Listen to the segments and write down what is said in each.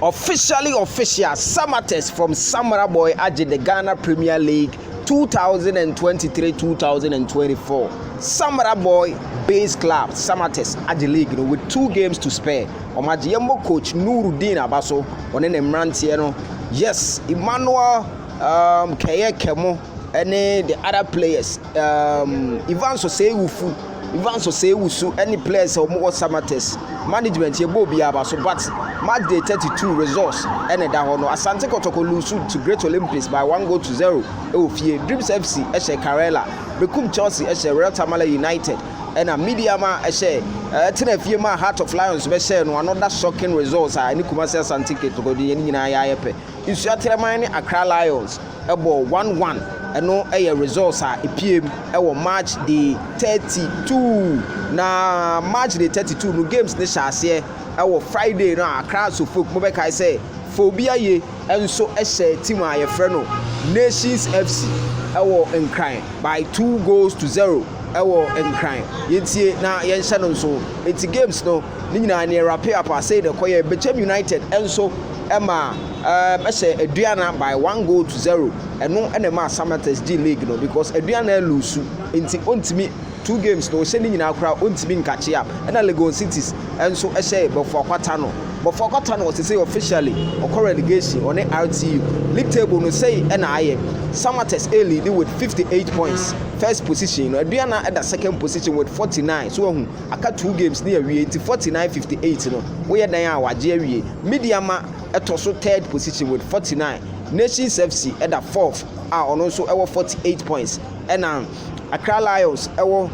Officially Official, Samatex from Samara Boy agye the Ghana Premier League 2023-2024. Samara Boy Base Club, Samatex agye league no with two games to spare. Wɔn agye yɛmmɔ coach Nurudeen Abaso, ɔne ne mmeranteɛ no. Yes, Emmanuel um, Kɛyɛ Kɛmo ne the other players. Um, Ivan Sosei Wufu Ivan so sɛ ewu su ne players a wɔwɔ Samatex management yɛ bɔɔl biara ba so but match day thirty two results na ɛda hɔ no Asante Kɔtɔkɔ loose to Great Olympics by one goal to zero wɔ fie, Dreams FC hyɛ Karela bekum Chelsea hyɛ Real Tamale United na Medeama hyɛ ɛtena fie maa Heart of Lions bɛhyɛɛ no another shocking results a ɛne Kumasi Asante Kɔtɔkɔ deɛ ne nyinaa yɛ ayɛ pɛ, Nsuatiraman ne Accra Lions. bɔ one one ɛno yɛ results a ɛpiem wɔ March day thirty two na March day thirty two no games ne hyɛ aseɛ wɔ Friday no a Accra Asofok mobɛkae sɛ Fobi Aye nso hyɛ team a yɛfrɛ no Nations FC wɔ Nkran by two goals to zero wɔ Nkran yɛntie na yɛnhyɛ no nso nti games no ne nyinaa neɛ rape up a sei na ɛkɔyɛ Bechem United nso ma Ɛɛ bɛhyɛ Aduana by one goal to zero. Ɛno na ɛmaa Samatex gyee league no because Aduana aluusu nti ɔntumi two games na ɔhyɛ ne nyinaa koraa ɔntumi nkakye am. Ɛna Legon Cities nso hyɛɛ Bofoakwa Tano. Bofoakwa Tano sesei officially ɔkɔ relegation ɔne RTU. League table no sei na ayɛ. Samatex ɛreleadi with fifty eight points first position no. Aduana da second position with forty nine. So wahu? Aka two games ne awie nti forty nine fifty eight no woyɛ dɛn a wagye awie. Mideama. ɛtɔ so third position with forty nine, Nations FC ɛda fourth a ɔno nso ɛwɔ forty eight points, ɛna Accra Lions ɛwɔ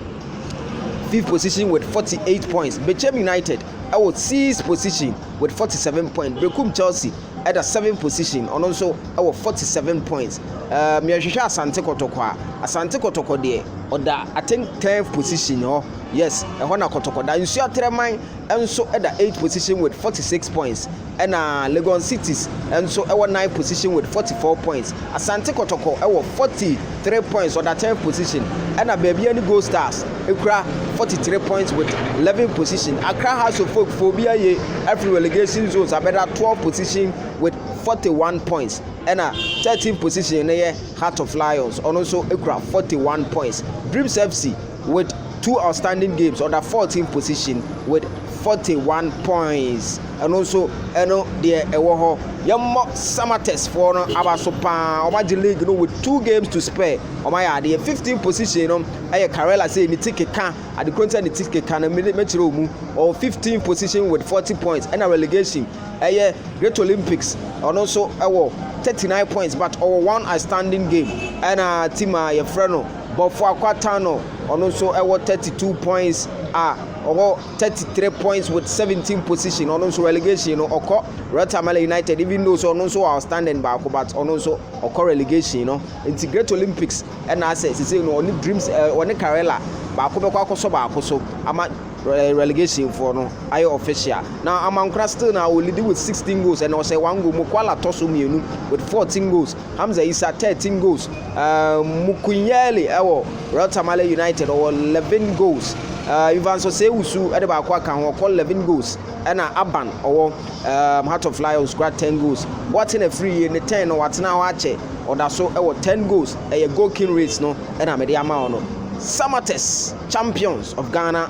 fifth position with forty eight points, Bechem United ɛwɔ sixth position with forty seven points, Berekum Chelsea ɛda seventh position ɔno nso ɛwɔ forty seven points, ɛɛ mìɛhwehwɛ Asante Kɔtɔkɔ a, Asante Kɔtɔkɔ deɛ ɔda I think tenth position hɔ, yes ɛhɔ na Kɔtɔkɔ da, Nsuatɛrɛman. nso da eighth position with forty six points ɛna Legon Cities nso wɔ ninth position with forty four points. Asante Kɔtɔkɔ wɔ forty three points ɔda tenth position ɛna Baabiara ne Gold Stars kura forty three points with eleventh position. Accra Hearts of Oak fo obi aye afiri relegation zones abɛda twelfth position with forty one points ɛna thirteenth position no yɛ Heart of Lions ɔno nso kura forty one points. Dreams FC with two outstanding games, ɔda 14 position with 41 points. Ɛno nso ɛno deɛ ɛwɔ hɔ. Yɛmmɔ Samatex foɔ no aba so paa. Wɔagye league no with two games to spare. Wɔayɛ adeɛ 15 position no ɛyɛ Karela sɛ ne ti keka adekoro nti ne ti keka no mɛkyerɛ wɔn mu. Ɔwɔ 15 position with 40 points ɛna relegation ɛyɛ Great Olympics ɔno nso ɛwɔ 39 points but ɔwɔ one outstanding game ɛna team a yɛfrɛ no Bɔfoa Kwata no, ɔno nso wɔ 32 points a ɔwɔ 33 points with 17 position. Ɔno nso relegation no ɔkɔ Royal Tamale United even though so ɔno nso wɔ outstanding baako but ɔno nso ɔkɔ relegation no. Nti Great Olympics ɛna asɛ sisi no ɔne Dreams eh, ɔne Karela baako bɛkɔ akɔsɔ baako so ama eh, relegation for no ayɛ official. Na Amankora still na ɔlidi with 16 goals ɛna ɔsɛ one goal. Mokwala tɔ so mmienu with 14 goals. Hamza Isa, 13 goals, Mukunyeli wɔ Royal Tamale United, ɔwɔ 11 goals, Evans Osei-Owusu de baako aka ho, ɔkɔ 11 goals, ɛna Aban ɔwɔ Heart of Lions kura 10 goals. Boateng afiri yie, ne 10 no watena hɔ akyɛ, ɔda so wɔ 10 goals, ɛyɛ goal king race no na mede ama wo no. Samatex, Champions of Ghana.